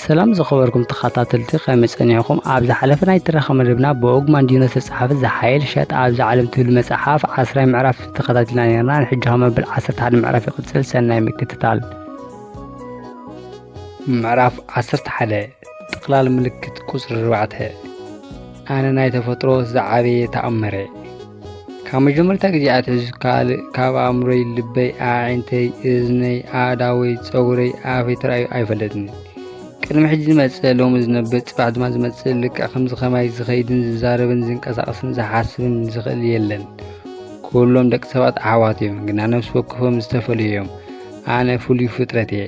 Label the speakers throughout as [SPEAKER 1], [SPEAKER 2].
[SPEAKER 1] ሰላም ዝኸበርኩም ተኸታተልቲ ከመይ ጸኒዕኹም? ኣብ ዝሓለፈ ናይ ትረኻ መደብና ብኦግ ማንዲኖ ዝተጻሕፈ ዝሓየል ሸጥ ኣብዚ ዓለም ትብል መጽሓፍ ዓስራይ ምዕራፍ ተኸታቲልና ነርና። ንሕጂ ኸ መበል ዓሰርተ ሓደ ምዕራፍ ይቕጽል። ሰናይ ምክትታል። ምዕራፍ ዓሰርተ ሓደ ጥቕላል ምልክት ቁጽሪ ኣርባዕተ ኣነ ናይ ተፈጥሮ ዝዓበየ ተኣምረ ካብ መጀመርታ ግዜ ኣትሕዙ ካልእ ካብ ኣእምሮይ ልበይ ኣዒንተይ እዝነይ ኣእዳወይ ፀጉረይ ኣፈይ ተራእዩ ኣይፈለጥን ቅድሚ ሕጂ ዝመፅእ ሎሚ ዝነብር ፅባሕ ድማ ዝመፅእ ልክዕ ከምዚ ከማይ ዝኸይድን ዝዛረብን ዝንቀሳቐስን ዝሓስብን ዝኽእል የለን ኩሎም ደቂ ሰባት ኣሕዋት እዮም ግና ነፍሲ ወከፎም ዝተፈለዩ እዮም ኣነ ፍሉይ ፍጥረት እየ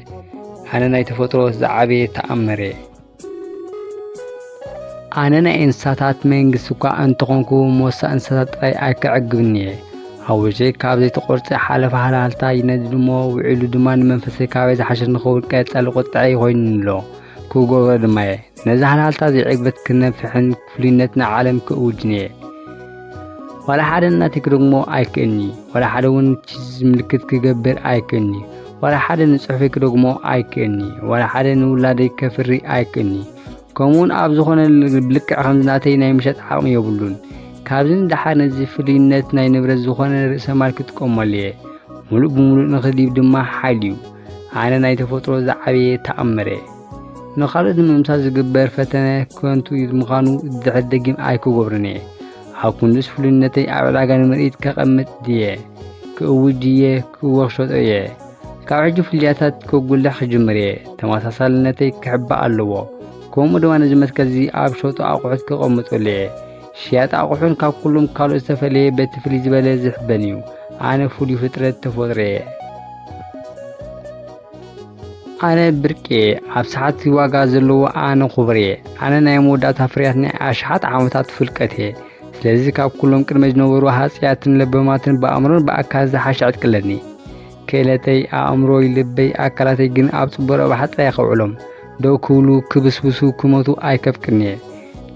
[SPEAKER 1] ኣነ ናይ ተፈጥሮ ዝዓበየ ተኣምር እየ ኣነ ናይ እንስሳታት መንግስቲ እኳ እንተኾንኩ ሞሳ እንስሳታት ጥራይ ኣይከዕግብን እየ ሓዊሸይ ካብ ዘይተቖርፀ ሓለፋ ሃልሃልታ ይነድድ እሞ ውዒሉ ድማ ንመንፈሰይ ካበይ ዝሓሸ ንኸውን ቀፃሊ ቁጥዐ ይኮይኑኒ ኣሎ ክገብሮ ድማ እየ ነዚ ሃልሃልታ ዘይዕግበት ክነፍሕን ፍሉይነት ንዓለም ክእውጅንየ ዋላ ሓደ ናተይ ክደግሞ ኣይክእልኒ ዋላ ሓደ እውን ቺዝ ምልክት ክገብር ኣይክእልኒ ዋላ ሓደ ንጽሑፈይ ክደግሞ ኣይክእልኒ ዋላ ሓደ ንውላደይ ከፍሪ ኣይክእልኒ ከምኡውን ኣብ ዝኾነ ብልክዕ ከም ዝናተይ ናይ ምሸጥ ዓቕሚ የብሉን ካብዚ ንደሓር ነዚ ፍሉይነት ናይ ንብረት ዝኾነ ርእሰ ማል ክጥቀመሉ እየ ሙሉእ ብምሉእ ንኽዲብ ድማ ሓይል እዩ ኣነ ናይ ተፈጥሮ ዝዓበየ ተኣምረ ንኻልኦት ንምምሳል ዝግበር ፈተነ ከንቱ ምዃኑ ድሕር ደጊም ኣይክገብሮን እየ። ኣብ ክንዱስ ፍሉይነተይ ኣብ ዕዳጋ ንምርኢት ከቐምጥ ድየ? ክእውጅ ድየ? ክወክሸጦ እየ? ካብ ሕጂ ፍልልያታት ከጉልሕ ክጅምር እየ። ተመሳሳልነተይ ክሕባእ ኣለዎ። ከምኡ ድማ ነዚ መትከልዚ ኣብ ሸጡ ኣቑሑት ከቐምጠሉ እየ። ሽያጥ ኣቑሑን ካብ ኩሎም ካልኦት ዝተፈለየ በቲ ፍልይ ዝበለ ዝሕበን እዩ። ኣነ ፍሉይ ፍጥረት ተፈጥሮ እየ። ኣነ ብርቅየ ኣብ ሰዓት ዋጋ ዘለዎ ኣነ ኩብርየ ኣነ ናይ መወዳእታ ፍርያት ናይ ኣሽሓት ዓመታት ፍልቀት እየ ስለዚ ካብ ኩሎም ቅድመ ዝነበሩ ሃፅያትን ለበማትን ብኣእምሮን ብኣካል ዝሓሸ ዕጥቅለኒ ክእለተይ ኣእምሮይ ልበይ ኣካላተይ ግን ኣብ ፅቡቅ ረብሓ ጥራይ ከውዕሎም ደው ክብሉ ክብስብሱ ክመቱ ኣይከፍቅን እየ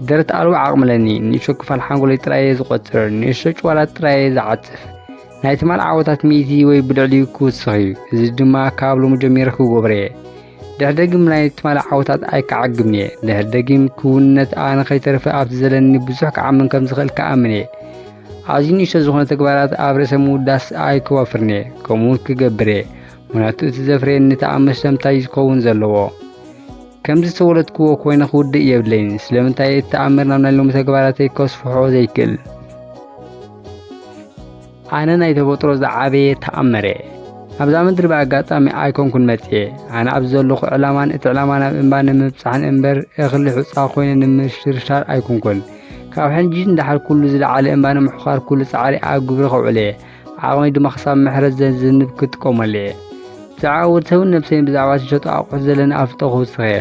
[SPEAKER 1] ደረት ኣልቦ ዓቕምለኒ ንእሾ ክፋል ሓንጎለይ ጥራየ ዝቆፅር ንእሾ ጭዋላት ጥራየ ዝዓፅፍ ናይ ትማል ዓወታት ሚእቲ ወይ ብልዕሊኡ ክውስኽ እዩ። እዚ ድማ ካብ ሎሚ ጀሚረ ክጎብረ እየ። ድሕሪ ደጊም ናይ ትማል ዓወታት ኣይከዓግብን እየ። ድሕሪ ደጊም ክውንነት ኣነ ከይተርፈ ኣብቲ ዘለኒ ብዙሕ ክዓምን ከም ዝኽእል ክኣምን እየ። ኣዝዩ ንእሽቶ ዝኾነ ተግባራት ኣብ ርእሰ ምውዳስ ኣይከዋፍርን እየ። ከምኡውን ክገብር እየ። ምክንያቱ እቲ ዘፍረየኒ ተኣምር ሰምታይ እዩ ዝኸውን ዘለዎ። ከምዚ ዝተወለድክዎ ኮይነ ክውድእ የብለይን። ስለምንታይ እቲ ተኣምር ናብ ናይ ሎሚ ተግባራተይ ከስፍሖ ዘይክእል? ኣነ ናይ ተፈጥሮ ዝዓበየ ተኣምረ ኣብዛ ምድሪ ብኣጋጣሚ ኣይኮንኩን መጽየ ኣነ ኣብዚ ዘለኹ ዕላማን እቲ ዕላማ ናብ እምባ ንምብጻሕን እምበር እኽሊ ሑጻ ኮይነ ንምሽርሻር ኣይኮንኩን ካብ ሕጂ እንዳሓር ኩሉ ዝለዓለ እምባ ንምሕዃር ኩሉ ጻዕሪ ኣብ ግብሪ ከውዕለ ዓቕመይ ድማ ክሳብ ምሕረት ዘዝንብ ክጥቀመሉ እየ። ብዛዕባ ወዲ ሰብን ነብሰይን ብዛዕባ ዝሸጡ ኣቑሑት ዘለኒ ኣፍልጦ ክውስኽ እየ።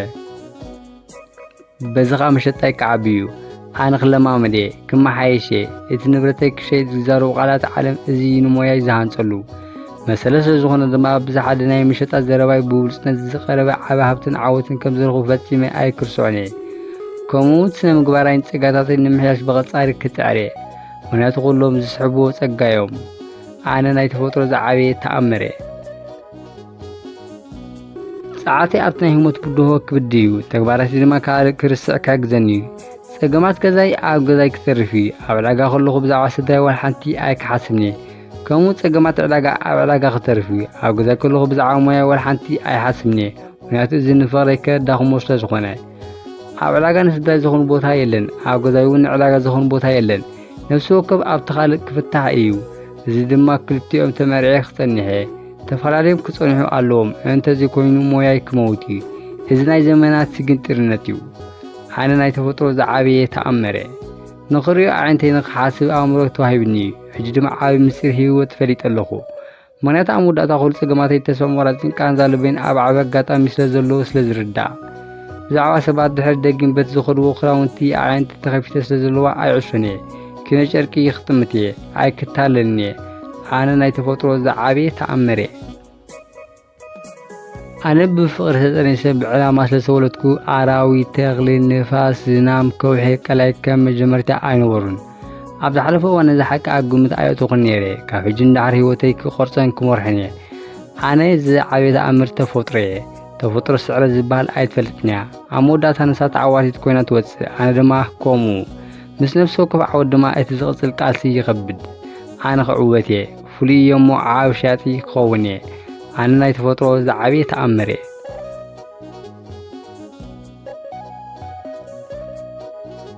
[SPEAKER 1] በዚ ኸኣ መሸጣይ ክዓቢ እዩ። ኣነ ክለማመድ እየ፣ ክመሓየሽ እየ። እቲ ንብረተይ ክሸይጥ ዝዛረቡ ቃላት ዓለም እዚ እዩ ንሞያይ ዝሃንጸሉ። መሰለ ስለ ዝኾነ ድማ ኣብ ብዝሓደ ናይ መሸጣ ዘረባይ ብብሉጽነት ዝቐረበ ዓቢ ሃብትን ዓወትን ከም ዝረኽቡ ፈጺመ ኣይክርስዖን እየ። ከምኡውን ስነ ምግባራይን ጸጋታተይን ንምሕያሽ ብቐጻሪ ክጽዕር እየ። ምክንያቱ ኩሎም ዝስሕብዎ ጸጋ እዮም ኣነ ናይ ተፈጥሮ ዝዓበየ ተኣምር እየ ጸዓተ ኣብቲ ናይ ህሞት ብድሆ ክብድ እዩ ተግባራት ድማ ካልእ ክርስዕ ክሕግዘኒ እዩ ጸገማት ገዛይ ኣብ ገዛይ ክተርፍ እዩ ኣብ ዕዳጋ ከለኹ ብዛዕባ ስድራይ ዋላ ሓንቲ ኣይክሓስብን እየ ከምኡ ጸገማት ዕዳጋ ኣብ ዕዳጋ ክተርፍ እዩ ኣብ ገዛይ ከለኹ ብዛዕባ ሞያ ዋላ ሓንቲ ኣይሓስብን እየ ምክንያቱ እዚ ንፍቕረይ ከዳኽሞ ስለ ዝኾነ ኣብ ዕዳጋ ንስዳይ ዝኾኑ ቦታ የለን፣ ኣብ ገዛይ እውን ንዕዳጋ ዝኾኑ ቦታ የለን። ነፍሲ ወከፍ ኣብቲ ካልእ ክፍታሕ እዩ። እዚ ድማ ክልቲኦም ተመርዔ ክጸኒሐ ተፈላለዮም ክጸንሑ ኣለዎም። እንተዚ ኮይኑ ሞያይ ክመውት እዩ። እዚ ናይ ዘመናት ስግንጢርነት እዩ። ኣነ ናይ ተፈጥሮ ዝዓበየ ተኣምረ ንኽሪኦ ኣዒንተይ ንኽሓስብ ኣእምሮ ተዋሂብኒ እዩ። ሕጂ ድማ ዓቢ ምስጢር ህይወት ፈሊጠ ኣለኹ። ምኽንያት ኣብ መወዳእታ ኩሉ ጸገማተይ ተስፋ ምቑራጽን ቃንዛ ልበይን ኣብ ዓቢ ኣጋጣሚ ስለ ዘሎ ስለ ዝርዳእ ብዛዕባ ሰባት ድሕሪ ደጊም በቲ ዝኸድዎ ክዳውንቲ ኣዕይንቲ ተኸፊተ ስለ ዘለዋ ኣይዕሾን እየ ኪኖ ጨርቂ ይኽጥምት እየ ኣይክታለልን እየ ኣነ ናይ ተፈጥሮ ዝዓበየ ተኣምር እየ ኣነ ብፍቕሪ ተጠኒሰ ብዕላማ ስለ ዝተወለድኩ ኣራዊት ተኽሊ ንፋስ ዝናም ከውሒ ቀላይ ከም መጀመርታ ኣይነበሩን ኣብ ዝሓለፈ እዋን ነዚ ሓቂ ኣብ ግምት ኣየእተኹን ነይረ ካብ ሕጂ ንዳዕሪ ህይወተይ ክቆርፀን ክመርሖን እየ ኣነ ዝዓበየ ተኣምር ተፈጥሮ እየ ተፈጥሮ ስዕረት ዝበሃል ኣይትፈልጥን እያ ኣብ መወዳእታ ንሳ ተዓዋቲት ኮይና ትወፅእ ኣነ ድማ ከምኡ ምስ ነፍሲ ወከፍ ዓወት ድማ እቲ ዝቕፅል ቃልሲ ይኸብድ ኣነ ክዕወት እየ ፍሉይ እየ እሞ ዓብ ሸያጢ ክኸውን እየ ኣነ ናይ ተፈጥሮ ዝዓበየ ተኣምር እየ